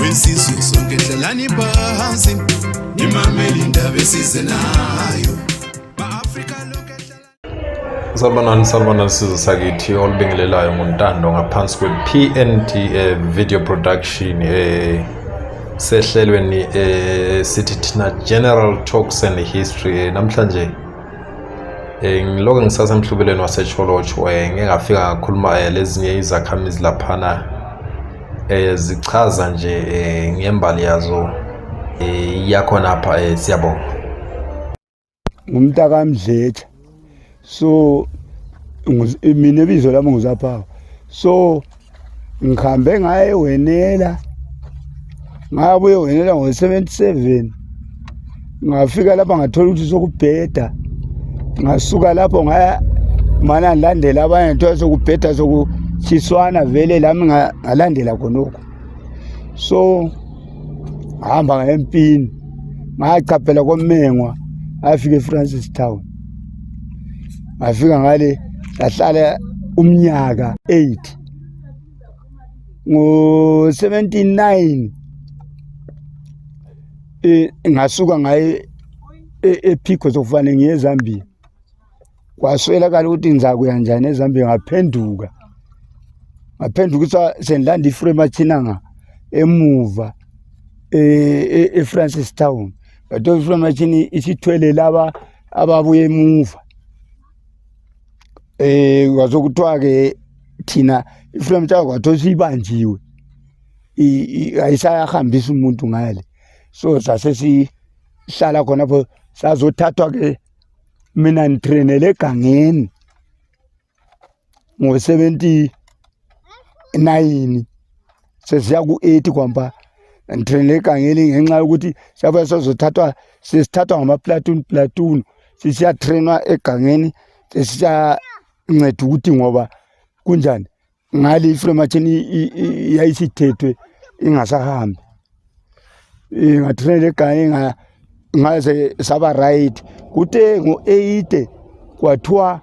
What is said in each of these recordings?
wesizwe sonke dlalani phansi nimamele indaba esize nayo Salbanani salbanani sizwe sakithi olibingelelayo ngontando ngaphansi kwe-PND eh, video production eh, sehlelweni eh, sithi thina general talks and history eh, namhlanje Eh, ngilokho ngisasemhlubelweni waseCholoch eh, ngeke ngafika ngakhuluma eh, lezinye izakhamizi laphana eh zichaza nje eh, ngembali yazo eh, yakhona apha eh, siyabonga ngumntaka Mdletsha so mina ibizo lami nguzaphawa so ngihambe ngaye wenela ngabuye wenela ngo-77 ngafika lapha ngathola ukuthi sokubheda ngasuka lapho ngaya mana ngilandela abanye ngithola sokubheda sokutshiswana vele lami ngalandela khonokho so ngahamba ngayempini ngachaphela komengwa afike efrancis town ngafika ngale sahlala umnyaka 8 ngo 79 eh ngasuka ngaye ephikho e, sokufanele ngiye eZambia kwaswelakala ukuthi ngizakuya njani eZambia ngaphenduka ngaphendukisa sendilanda ifree machinanga emuva e-, e-, efrancis town but ofree machini isithwele laba ababuye emuva eh kwaze kuthiwa ke thina ifreedom charter kwathiwa siyibanjiwe ayisayahambisa umuntu ngale so sase sihlala khonapho sazothathwa ke mina ngitrainele egangeni ngo 79 sesiya ku-80 kwamba ngithrenele egangeni ngenxa yokuthi siyabuya sozothathwa sesithathwa ngamaplatoon platoon sisiyatrenwa egangeni sesiyanceda ukuthi ngoba kunjani ngale iflomachini yayisithethwe ingasahambi ngathunela egane ngaze saba right kute ngo-eight kwathiwa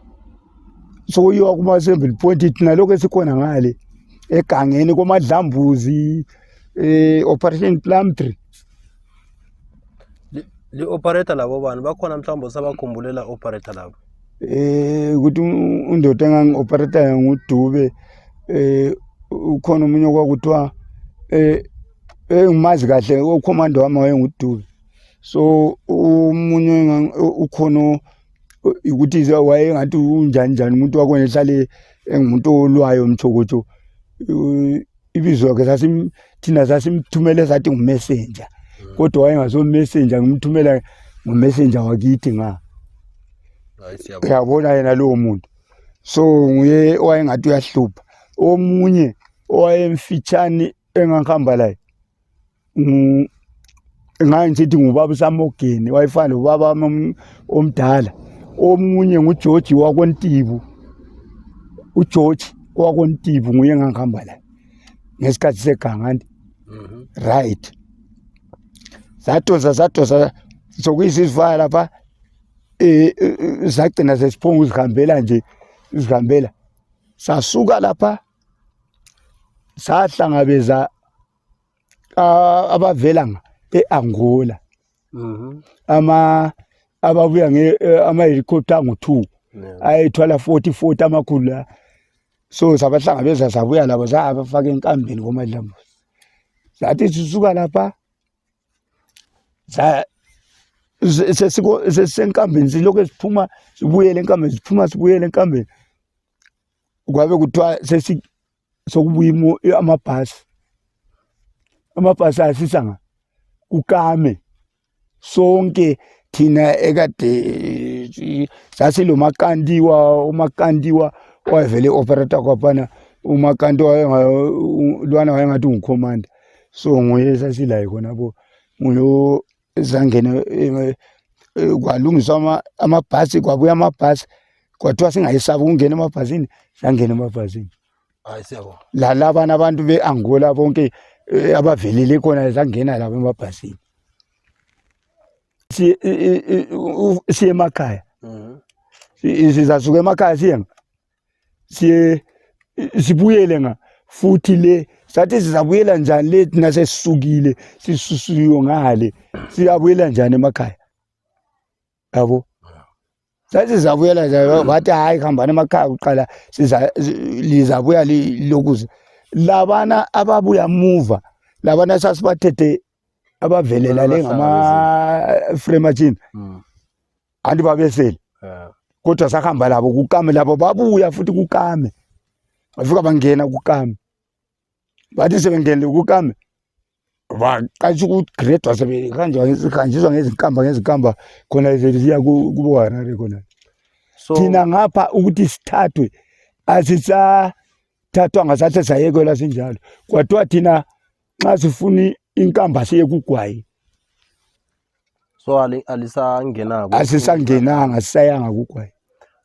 sokuyiwa kuma-assembly point thina lokhu esikhona ngale egangeni komadlambuzi um eh, operation plumtree li-operator labo bani bakhona mhlawumbe usabakhumbulelaa operator labo eh ukuthi undoda engangi-operator ngudube eh ukhona omunye okwakuthiwa eh engimazi kahle okhomanda wami wayengudube so umunye ukhona ukuthi wayengathi unjani njani umuntu wakhona ehlale engumuntu olwayo mthokotsho ibizo ke sasim thina sasimthumele sathi ngumessenger hmm. kodwa wayengaso messenger ngimthumela ngumessenger wakithi nga uyabona yena lowo muntu so nguye owayengathi uyahlupha omunye owayemfitshane engangihamba laye ngaye ngisithi ngubaba usamogeni wayefana lobaba omdala omunye ngugeorge wakontibu ugeorge wakontibu nguye ngangihamba laye ngesikhathi segangandi mhm. right zatoza zatoza sokuyizizivaya lapha eh, eh, eh zagcina sesiphonga uzihambela nje uzihambela sasuka lapha sahlangabeza abavela e-angola mhm. ama ababuya eh, ama-helicopter angu-two ayethwala forty forty amakhulu la so sabahlangabeza sabuya labo zabafaka enkambeni komadlambuzi zathi sisuka lapha sesisenkambeni silokhu siphuma sibuyele enkambeni siphuma sibuyele enkambeni kwabe kuthiwa sesi sokubuya amabhasi amabhasi asisa nga kukame sonke thina ekade sasilomakandiwa umakandiwa wayevele operator kwaphana umakandiwa lwana wayengathi ungukhomanda so nguye sasilaye khonapho nguyo zangene eh, eh, kwalungiswa amabhasi kwabuya amabhasi kwathiwa singayesabi ukungena emabhasini sangena emabhasini lalabana abantu be-angola bonke eh, abavelele khona sangena labo emabhasini siye emakhaya mhm. sizasuka emakhaya siyenga siye sibuyele nga futhi le sathi sizabuyela njani le thina sesisukile sisusiyo ngale siyabuyela njani emakhaya yabo sathi sizabuyela njani bathi hayi hambani emakhaya kuqala siza lizabuya lokuze labana ababuya muva labana sasibathethe abavelela le ngama-free machine hmm. anti babeseli kodwa sahamba labo kukame labo babuya futhi kukame bafika bangena kukame bathi sebengenile kukame baqasha ukugredwa sebehanjiswa ngezinkamba ngezinkamba khona ziya kuboharare khona thina ngapha ukuthi sithathwe asisathathwanga sathe sayekelwa sinjalo kwathiwa thina nxa sifuna inkamba siye kugwayi so alisangenako asisangenanga sisayanga kugwayi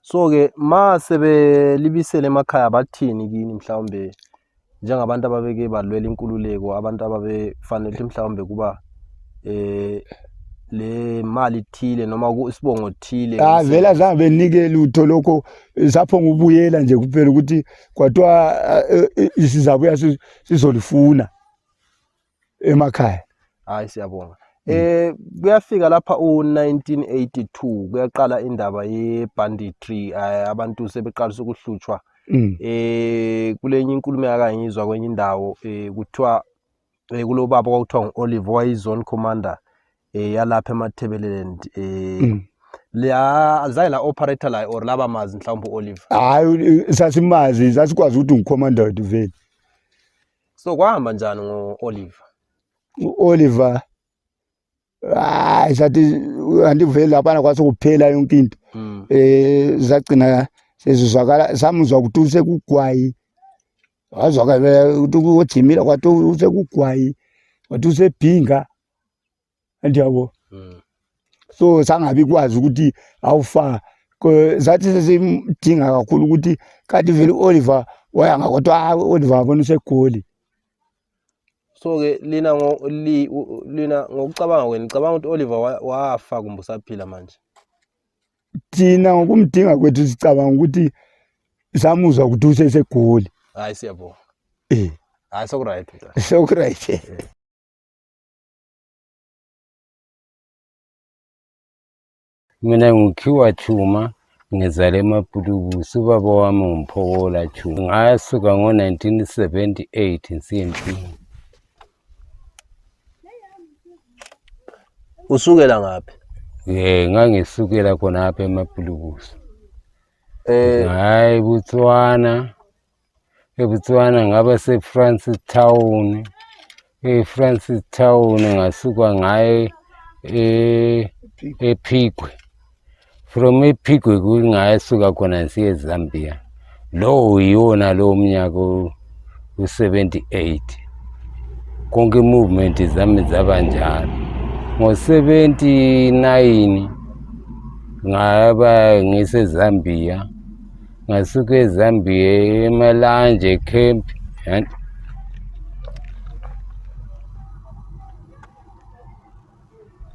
so ke ma sebelibisele emakhaya bathini kini mhlawumbe njengabantu ababeke balwela inkululeko abantu ababefanele ukuthi mhlawumbe kuba eh le mali thile noma isibongo thile ah vela zange benike lutho lokho sapho ngubuyela nje kuphela ukuthi kwathiwa eh, eh, eh, sizabuya si- sizolifuna emakhaya hayi siyabonga Mm. eh kuyafika lapha u-1982 kuyaqala indaba ye-banditry eh, abantu sebeqalisa ukuhlutshwa Mm. eh kulenye inkulumo yakangizwa kwenye indawo eh kuthiwa eh, kulobaba kwakuthiwa ngu-olive wayizone commander eh yalapha emathebeleleni eh Mm. la azange la operator la or laba mazi mhlawumbe uOliver hayi sasimazi sasikwazi ukuthi ngucommander wethu vele so kwahamba njani ngoOliver u-oliver hayi sathi andivele laphana kwasekuphela yonke into mm. um zagcina sezizwakala samuzwa ukuthi usekugwayi wazwakala ukuthi ujimile kwathi usekugwayi wathi usebhinga ndiyabo mm. so sangabi kwazi ukuthi awufa zathi sesimdinga kakhulu ukuthi kanti vele u-oliver wayanga kodwa hayi u-oliver abona usegoli so-ke lina lina ngokucabanga kwenu nicabanga ukuthi u-oliver wafa kumbe usaphila manje thina ngokumdinga kwethu sicabanga ukuthi samuzwa ukuthi usesegoli hayi siyabonga eh. hayi sokuryt sokuryt eh. Mina ngikhiwa Chuma ngizale emapulukusi ubaba wami ngumphokola Chuma ngasuka ngo-1978 nsiempini usukela ngaphi um ngangisukela khonapha emapulukusi um eh. hhayi botswana eBotswana ngaba seFrancis Town eFrancis Town ngasuka ngaye e ephikwe from ephikwe kungayasuka khona ngisiye ezambia lowo yiwona lowo mnyaka u-78 konke i-movement zami zaba njalo ngo-79 ngaba ngisezambia ngasuke ezambia emalanje camp and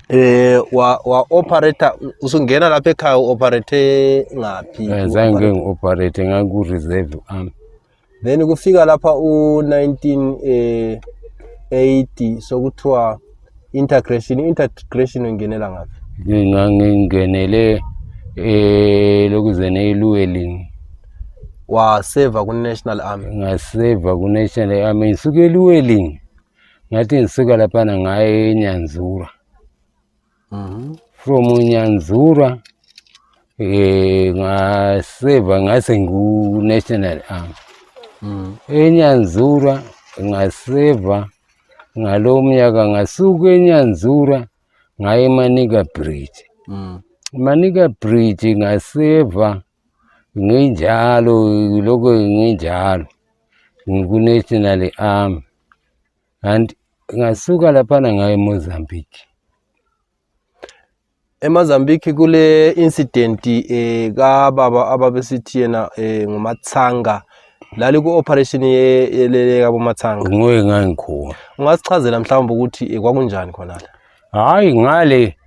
eh wa wa operator usungena lapha ekhaya uoperate ngaphi Eh, zange ngi-operate ngaku-reserve am then kufika lapha u 1980 eh, sokuthiwa integration integration ungenela ngaphi ngingenele eh lokuzene eluwelini waseva ku national army ngaseva ku national army ngisuke eluwelini ngathi ngisuka lapha ngaye enyanzura uh -huh. from Nyanzura eh, ngaseva ngase ngu-national arm mm. enyanzura ngaseva ngalo mnyaka ngasuka enyanzura ngaye manika bridge mm. manika bridge ngaseva nginjalo lokho nginjalo ngikunational army and ngasuka laphana ngaye Mozambique eMozambique kule incident eh ka baba ababesithi yena eh ngumathanga lali ku operation yelele ka bomathanga ngoye ngangikhona ungasichazela mhlawumbe ukuthi eh, kwakunjani khona la hayi ngale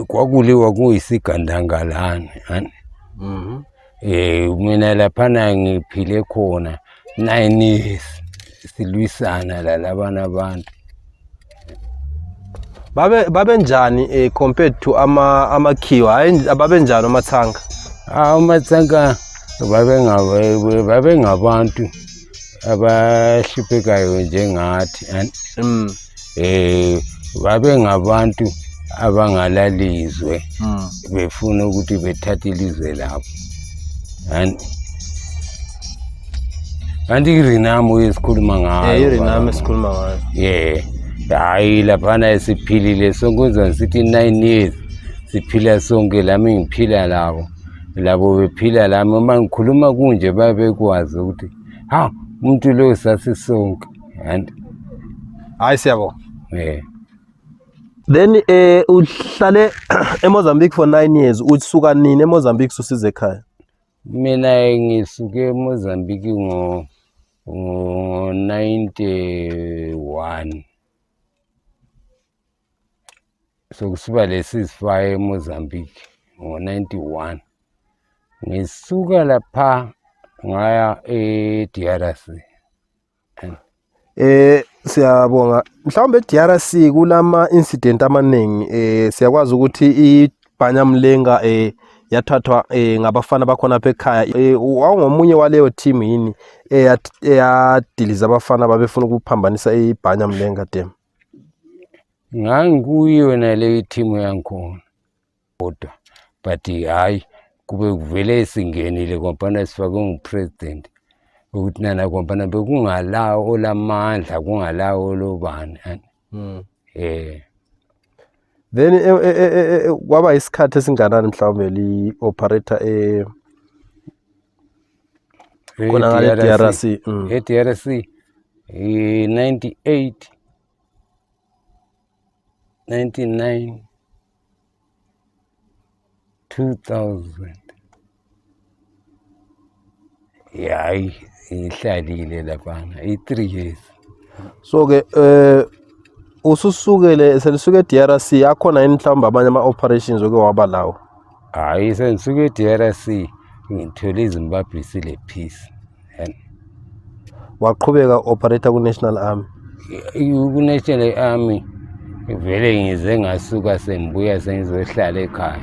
kwakuliwa kuyisigandangalane ani mm -hmm. e, mina laphana ngiphile khona nine silwisana lalabana abantu babe babenjani um eh, compared to amakhiwa hayi babenjani amathanga amathanga babengabantu abahluphekayo njengathi mm. eh babengabantu abangalalizwe mm. befuna ukuthi bethathe ilizwe labo and kanti irinamo esikhuluma ngayo eh, irinamo esikhuluma ngayo yeah hayi laphana esiphilile sonke uzwa sithi nine years siphila sonke lami ngiphila labo labo bephila lami uma ngikhuluma kunje babekwazi ukuthi ha umuntu lo sasisonke and hayi siyabo eh then eh uhlale eMozambique for 9 years usuka nini eMozambique susize ekhaya mina ngisuke eMozambique ngo ngo 91 sokusiba lesizifaya eMozambique ngo-91 ngisuka lapha ngaya e-DRC eh siyabonga mhlawumbe e-DRC kulama incident amaningi eh siyakwazi ukuthi ibhanyamlenga eh yathathwa eh ngabafana bakhona bekhaya eh, wawungomunye waleyo team yini eyadiliza abafana babefuna ukuphambanisa ibhanyamlenga dem nganguyo yena leyo ithimu yangikhona kodwa but hhayi kube kuvele singenile ngombana sifakwe ngupresident ukuthi nana ngombana bekungalawo olamandla kungalawo olobani um then e, e, e, kwaba isikhathi esinganani mhlawumbe li-operator Kuna ngale TRC. Mm. Hii TRC 98 99 2000 yayi ihlalile laphana i-three years so ke eh ususukele selisuke e-DRC akhona yini mhlawumbe amanye ama-operations oke waba lawo hayi sendisuka e-drc ngithwele izimbabwe isile peace and waqhubeka operator ku-national army ku-national army vele ngize ngasuka sengibuya sengizohlala ekhaya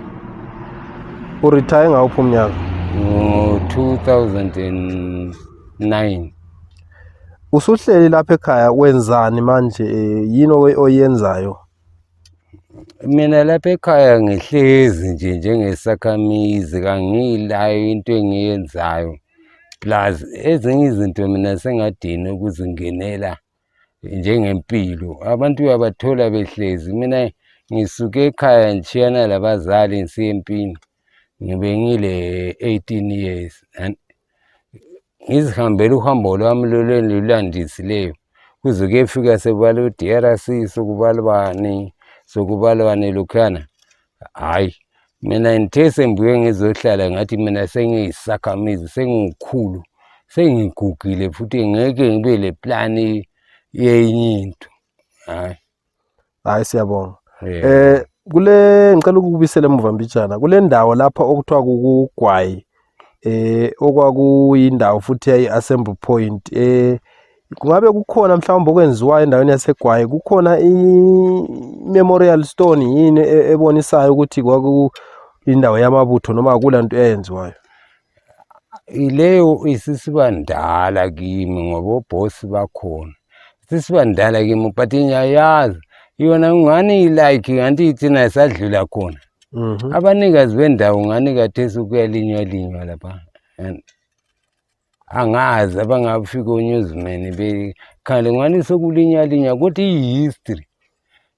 uretire ngawuphi umnyaka ngo-2009 usuhleli lapha ekhaya wenzani manje eh, yini oyenzayo mina lapha ekhaya ngihlezi nje njengesakhamizi kangiyilayo into engiyenzayo plus ezinye izinto mina sengadini ukuzingenela njengempilo abantu uyabathola behlezi mina ngisuke ekhaya ngishiyana labazali ngisiyempini ngibengile 18 years and ngizihambela uhambo lwami lolulandisileyo kuze kuyefika sekubala u-drc sokubala bani sokubala bani lokhuyana hhayi mina ngithe sengibuye ngizohlala ngathi mina sengiyisakhamizi sengiwukhulu sengigugile futhi ngeke ngibe le plani yenye into hhayi hayi siyabonga eh kule ngicela ukubisela emuva mbijana kule ndawo lapha okuthiwa kukugwayi eh okwakuyindawo futhi yayi assembly point eh kungabe kukhona mhlawumbe okwenziwayo endaweni yasegwayi kukhona i-memorial stone yini e-, ebonisayo ukuthi kwakuyindawo yamabutho noma akulanto eyenziwayo Leyo isisiba ndala kimi ngoba obhosi bakhona. Isisiba ndala kimi but ngiyayazi yona ngani ilike nganti ithina isadlula khona. Mhm. Abanikazi bendawo ngani kathesi kuyalinywa linywa lapha. And angazi abangafika onyuzimeni bekhale ngani sekulinywa linywa kodwa i-history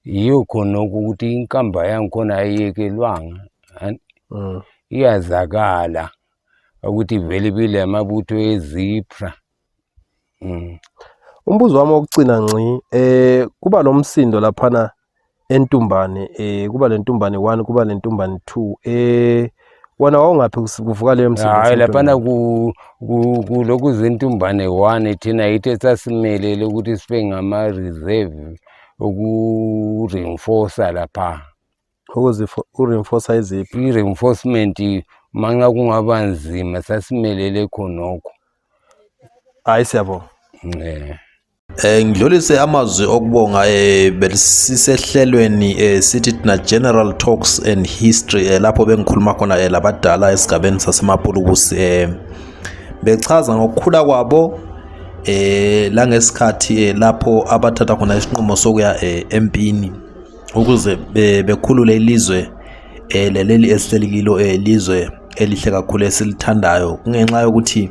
yiyo khona ukuthi inkamba yangikhona ayiyekelwanga an- Mm. iyazakala ukuthi vele ibile amabutho ezipra mm. umbuzo wami wokucina nci eh kuba nomsindo laphana entumbane eh kuba lentumbane 1 kuba lentumbane 2 eh wena wawungaphi kuvuka leyo msebenzi hayi laphana kulokhu zentumbane one thina yithe sasimelele ukuthi sibe ngama-reserve uku-reinforce lapha uku-reinforce iziphi i-reinforcement manxa kungaba nzima sasimelele khonokho hayi siyabonga um Eh, ngidlulise amazwi okubonga eh, besisehlelweni eh, sithi thina general talks and history eh, lapho bengikhuluma khona eh, labadala esigabeni sasemapulukusi eh, bechaza ngokukhula kwabo eh, langesikhathi eh, lapho abathatha khona isinqumo sokuya eh, empini ukuze eh, bekhulule ilizwe eh, leleli esihleli kilo eh, lizwe elihle kakhulu esilithandayo kungenxa yokuthi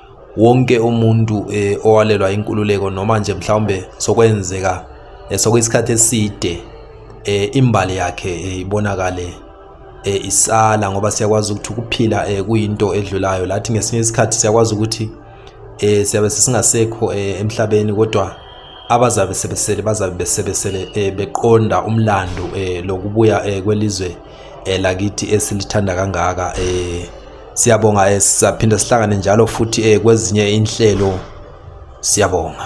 wonke umuntu um owalelwa inkululeko noma nje mhlawumbe sokwenzeka um sokuyisikhathi eside um imbali yakhe um ibonakale um isala ngoba siyakwazi ukuthi ukuphila um kuyinto edlulayo lathi ngesinye isikhathi siyakwazi ukuthi um siyabe sesingasekho um emhlabeni kodwa abazabe sebesele bazabe besebesele eh, beqonda umlando eh, lokubuya eh, kwelizwe lakithi esilithanda kangaka Siyabonga eh, sizaphinde sihlangane njalo futhi eh, kwezinye inhlelo. Siyabonga.